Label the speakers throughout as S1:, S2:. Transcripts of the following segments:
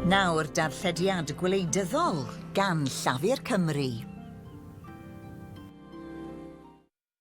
S1: Nawr darllediad gwleidyddol gan Llafur Cymru.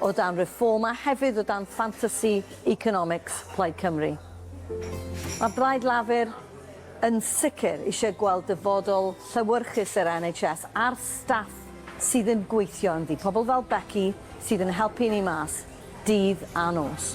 S2: o dan Reform a hefyd o dan ffantasi economics Plaid Cymru. Mae Blaid Lafur yn sicr eisiau gweld dyfodol llewyrchus yr NHS a'r staff sydd yn gweithio ynddi, pobl fel Becky sydd yn helpu ni mas dydd a nos.